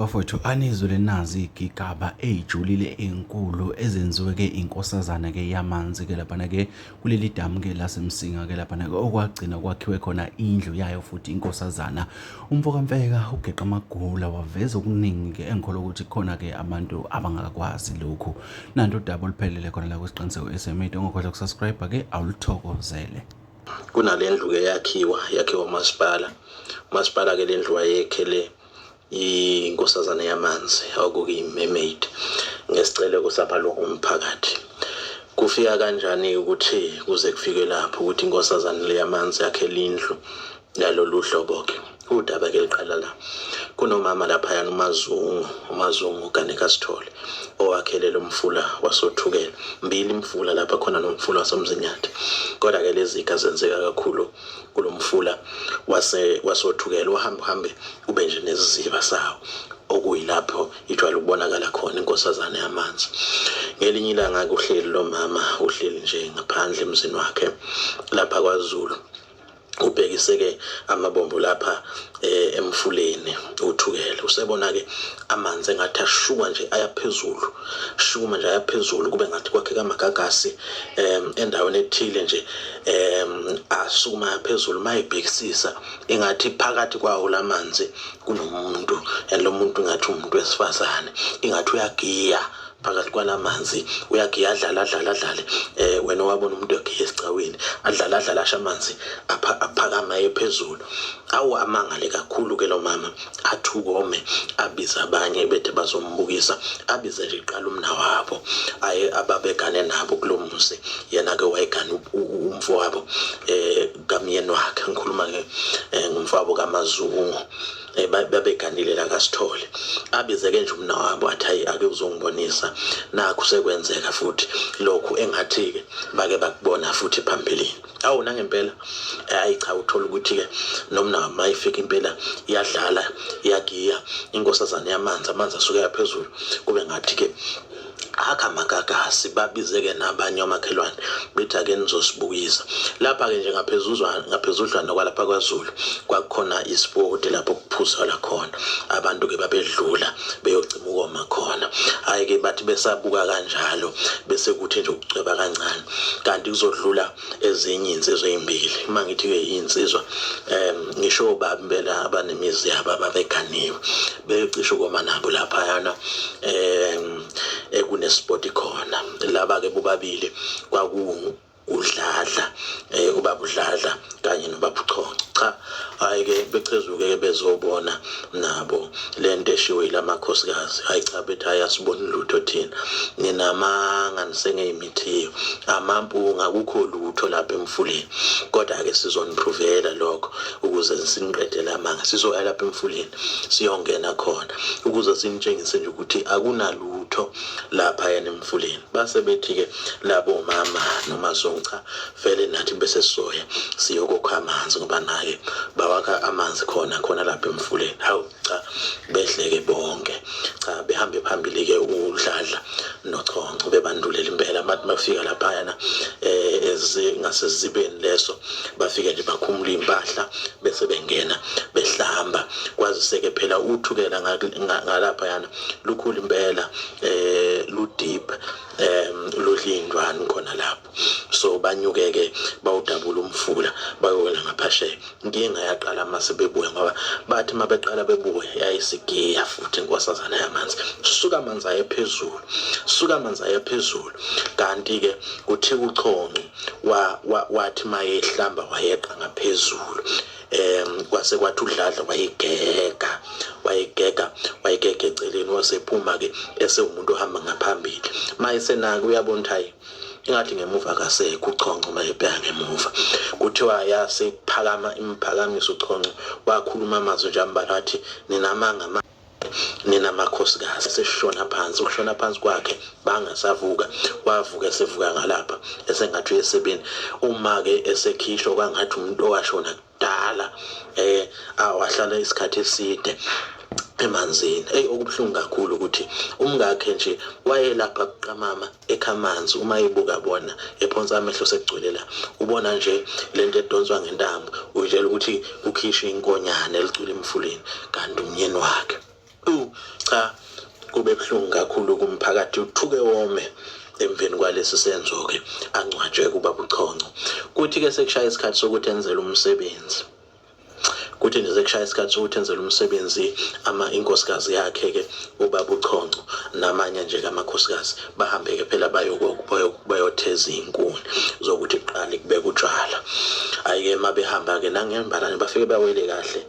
Bafowethu anizwe lenazi igigaba eyijulile enkulu ezenziwe ke inkosazana ke yamanzi ke laphana ke kuleli damu ke lasemsinga ke laphana ke okwagcina kwakhiwe khona indlu yayo futhi inkosazana umfokamfeka ugeqa amagula waveza okuningi ke engikholwa ukuthi khona ke abantu abangakwazi lokhu nanto udaba oluphelele khona la kwesiqiniseko SMA ongakhohlwa ukusubscribe ke awuluthokozele kunale ndlu ke yakhiwa yakhiwa umasipala umasipala ke le ndlu wayekhele inkosazane yamanzi okukuyi-mermaid ngesiceleko samalungu omphakathi kufika kanjani ukuthi kuze kufike lapho ukuthi inkosazane le yamanzi yakhele indlu yalolu hlobo-ke Udaba ke liqala la. Kunomama laphayana uMazungu, uMazungu Ganeka Sithole owakhelele umfula wasothukela. Mbili imfula lapha khona nomfula wasoMzinyathi. Kodwa ke lezi ziga zenzeka kakhulu kulomfula wase wasothukela uhamba uhambe ube nje neziziba sawo okuyilapho ijwayele ukubonakala khona inkosazane yamanzi ngelinye ilanga kuhleli lo mama uhleli nje ngaphandle emzini wakhe lapha kwaZulu ubhekise ke amabombo lapha eh, emfuleni uthukele usebona ke amanzi engathi ashuka nje ayaphezulu shuma nje ayaphezulu kube ngathi kwakhe kamagagasi em endaweni ethile nje em asukuma phezulu mayibhekisisa engathi phakathi kwawo lamanzi kunomuntu and lo muntu ngathi umuntu wesifazane ingathi uyagiya phakathi kwalamanzi uyagiya adlala adlala adlale eh wena wabona umuntu egiya esicaweni adlala adlala asha amanzi aphakama aye phezulu awu amangale kakhulu ke lo mama athukome abiza abanye bethe bazombukisa abize nje iqala umna wabo aye ababegane nabo kulo muzi yena ke wayegane umfo wabo eh kamyeni wakhe ngikhuluma ke eh, ngumfabo kamazungu eh, babeganile la kaSithole abizeke nje umna wabo athi hayi ake uzongibonisa nakho sekwenzeka futhi lokhu engathi ke bake bakubona futhi phambilini awu nangempela eh, ayi cha uthola ukuthi ke nomna mayifika impela iyadlala iyagiya inkosazane yamanzi amanzi asuke yaphezulu kube ngathi ke akha magagasi babizeke nabanye omakhelwane bethi ake nizosibukisa lapha-ke nje ngaphezudlwana kwalapha kwazulu kwakukhona ispoti lapho kuphuzela khona abantu-ke babedlula beyocima ukoma khona hhayi-ke bathi besabuka kanjalo bese kuthi nje ukucweba kancane kanti kuzodlula ezinye insizwa ezimbili uma ngithi ke insizwa em ngisho baba impela abanemizi yabo ababeganiwe becishe ukoma nabo lapha yana em ekunesport khona laba ke bobabili kwaku udladla eh ubaba udladla kanye nobaba uchonco cha hayi ke bechezuke ke bezobona nabo lento eshiwe ilamakhosikazi hayi cha bethi ayasibona lutho thina ninamanga nisengeyimi ezithetheyo amampunga akukho lutho lapha emfuleni kodwa ke sizoniprovela lokho ukuze siniqedele amanga sizoya lapha emfuleni siyongena khona ukuze sinitshengise nje ukuthi akunalutho lapha yena emfuleni base bethi ke labo mama noma zoncha vele nathi bese soya siyokokha amanzi ngoba naye bawakha amanzi khona khona lapha emfuleni hawu cha behleke bonke cha behambe phambili ke udladla nochonco bebandulela impela abantu bafika laphayana eh ezingasezibeni leso bafike nje bakhumula impahla bese bengena behlamba kwazise ke phela uthukela ngalapha yana lukhulu impela eh lu deep eh lodlindwani khona lapho so banyukeke bawudabula umfula bayowela ngaphasheya inkinga yaqala uma sebebuya ngoba bathi uma beqala bebuya yayisigiya futhi inkosazana yamanzi suka amanzi ayephezulu suka amanzi ayephezulu kanti-ke kuthi kuchonco wathi uma yehlamba wayeqa ngaphezulu um kwase kwathi udladla wayigeka wayigeka wayigega eceleni wasephuma-ke esewumuntu ohamba ngaphambili uma esenake uyabona ukuthi hayi ingathi ngemuva kasekho uchonco uma ebheka ngemuva kuthiwa yase iphakama imphakamisa uchonco wakhuluma amazwi nje ambalwa athi ninamanga nina makhosikazi seshona phansi ukushona phansi kwakhe bangasavuka wavuka esevuka ngalapha esengathi uyesebeni uma-ke esekhishwa kwangathi umuntu owashona kudala eh awahlala isikhathi eside emanzini eyi okubuhlungu kakhulu ukuthi umngakhe nje wayelapha kuqamama ekhamanzi uma ebuka bona ephonsa amehlo sekugcwele la ubona nje lento edonswa ngentambo uyitshela ukuthi ukhishwe inkonyane elicula emfuleni kanti umnyeni wakhe Ewu cha kube buhlungu kakhulu kumphakathi uthuke wome emveni kwalesi senzo-ke angcwatshwe kuba buchonco kuthi-ke sekushaya isikhathi sokuthi enzele umsebenzi kuthi nje sekushaya isikhathi sokuthi enzele umsebenzi ama inkosikazi yakhe-ke ubaba uchonco namanye nje kamakhosikazi bahambe-ke phela bayotheza iy'nkuni zokuthi kuqale kubeka utshwala hhayi-ke uma behamba-ke nangembalane bafike bawele kahle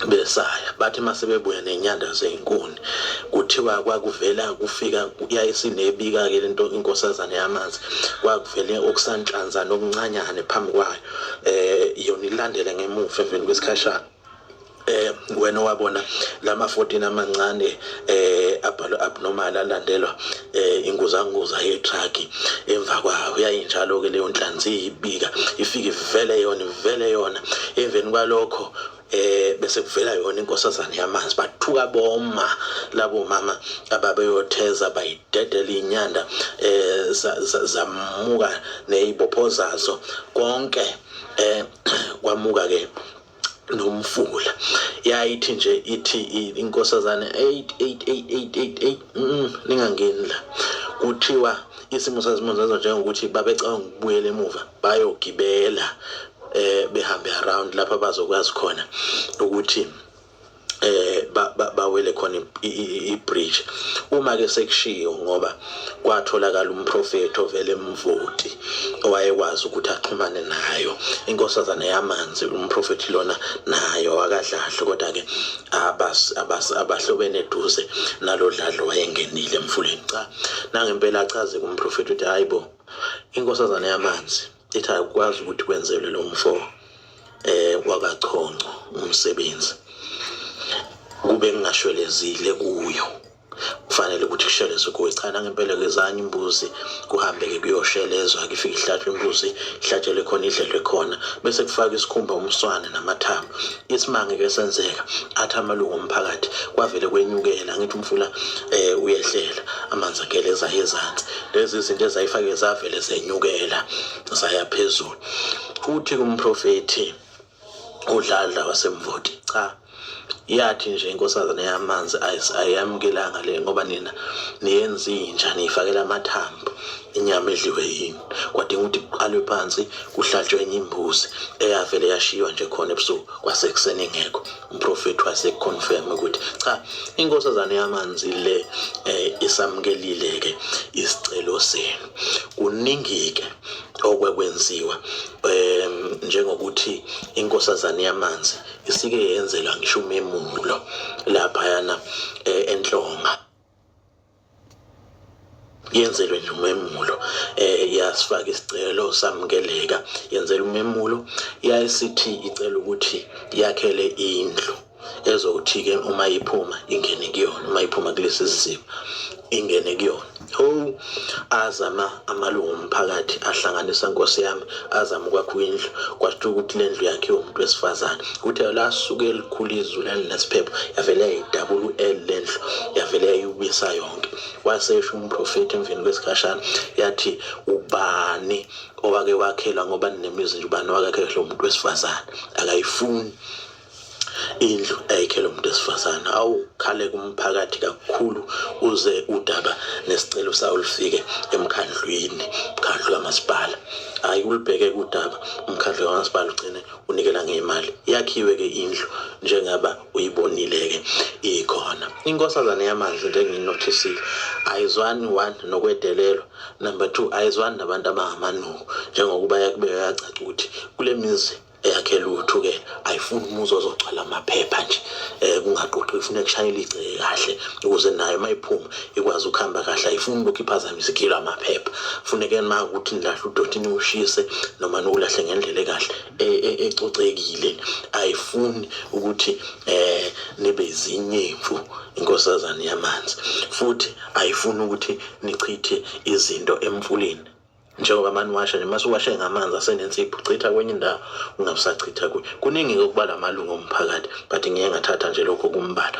besaya bathi masebebuya nenyanda zezinkuni kuthiwa kwakuvela kufika yayisinebika ke lento inkosazane yamanzi kwakuvele okusanhlanza nokuncanyane phambi kwayo eh yona ilandele ngemuva emveni kwesikhashana eh wena wabona lama 14 amancane eh abhalwa abnormal alandelwa eh inguzanguza yetruck emva kwayo yayinjalo ke leyo nhlanzi ibika ifike ivele yona ivele yona emveni kwalokho eh bese kuvela yona inkosazane yamanzi bathuka boma labo mama ababeyotheza bayidedela inyanda eh zamuka nezibopho zazo konke eh kwamuka ke nomfula yayithi nje ithi inkosazane 888888 mm, ningangeni la kuthiwa isimo sazimo zazo njengokuthi babecabanga ukubuyela emuva bayogibela eh behambe around lapha bazokwazi khona ukuthi eh bawele khona ibridge uma ke sekushiyo ngoba kwatholakala umprofeti ovele emvoti owayekwazi ukuthi axhumane nayo inkosazana yamanzi umprofeti lona nayo akadlahle kodwa ke abas abas abahlobene eduze nalodladlo wayengenile emfuleni cha nangempela achaze kumprofeti ukuthi hayibo inkosazana yamanzi ethi akwazi ukuthi kwenzelwe lo mfo um eh, wakachonco umsebenzi kube ngingashwelezile kuyo kufanele ukuthi kushelezwe kuwe cha nangempela kezanye imbuzi kuhambeke kuyoshelezwa kifike ihlatshwe imbuzi ihlatshelwe khona idlelwe khona bese kufaka isikhumba umswane namathambo isimanga ke senzeka athi amalungu omphakathi kwavele kwenyukela ngithi umfula eh uyehlela amanzi ageleza ezantsi lezi zinto ezayifake zavele zenyukela zaya phezulu futhi kumprofethi udladla wasemvoti cha yathi nje inkosazana yamanzi ayiyamukelanga le ngoba nina niyenza inja niyifakela amathambo inyama edliwe yini kwadinga ukuthi kuqalwe phansi kuhlatshwe enye imbuzi eyavele yashiywa nje khona ebusuku kwasekuseni ingekho umprofethi waseconfirm ukuthi cha inkosazane yamanzi le eh, isamkelile ke isicelo senu kuningi ke okwekwenziwa em njengokuthi inkosazane yamanzi isike yenzelwa ngisho umemulo lapha yana eh, enhlonga yenzelwe nje umemulo eh yasifaka isicelo samukeleka yenzela umemulo yayisithi icela ukuthi yakhele indlu ezothi ke uma iphuma ingene kuyona uma iphuma kulesi simo ingene kuyona ho azama amalungu omphakathi ahlanganisa nkosi yami azama ukwakha indlu kwasho ukuthi le ndlu yakhiwe umuntu wesifazane kuthe lasuke elikhulu izulu elinesiphepho yavele yayidabula u-l le ndlu yavele yayibisa yonke wasesho umprofethi emveni kwesikhashana yathi ubani owake wakhela ngoba ninemizi nje ubani owakakhela umuntu wesifazane akayifuni indlu ayikhele umuntu esifazane awukhale kumphakathi kakhulu uze udaba nesicelo sawo lifike emkhandlwini mkhandlu kamasipala hayi ulibheke kudaba umkhandlu kamasipala ugcine unikela ngemali yakhiwe ke indlu njengaba uyibonile ke ikhona inkosazane yamanzi njengiyinothisile ayizwani one nokwedelelwa number two ayizwani nabantu abangamanuku njengokuba yakubeka yacaca ukuthi kule mizi eyakhe lutho ke ayifuni umuzi ozogcwala amaphepha nje eh kungaqoqi ifuna kushayela igceke kahle ukuze nayo mayiphuma ikwazi ukuhamba kahle ayifuni lokhu iphazamise ikilo amaphepha funeke uma ukuthi nilahle udoti niwushise noma niwulahle ngendlela ekahle e, e, ecocekile ayifuni ukuthi eh nibe izinyemfu inkosazane yamanzi futhi ayifuni ukuthi nichithe izinto emfuleni njengoba amane washa nje mase uwashe ngamanzi asenensipho chitha kwenye indawo ungabusachitha kuyo kuningi-ke ukubala amalungu omphakathi but ngiye ngathatha nje lokho kumbala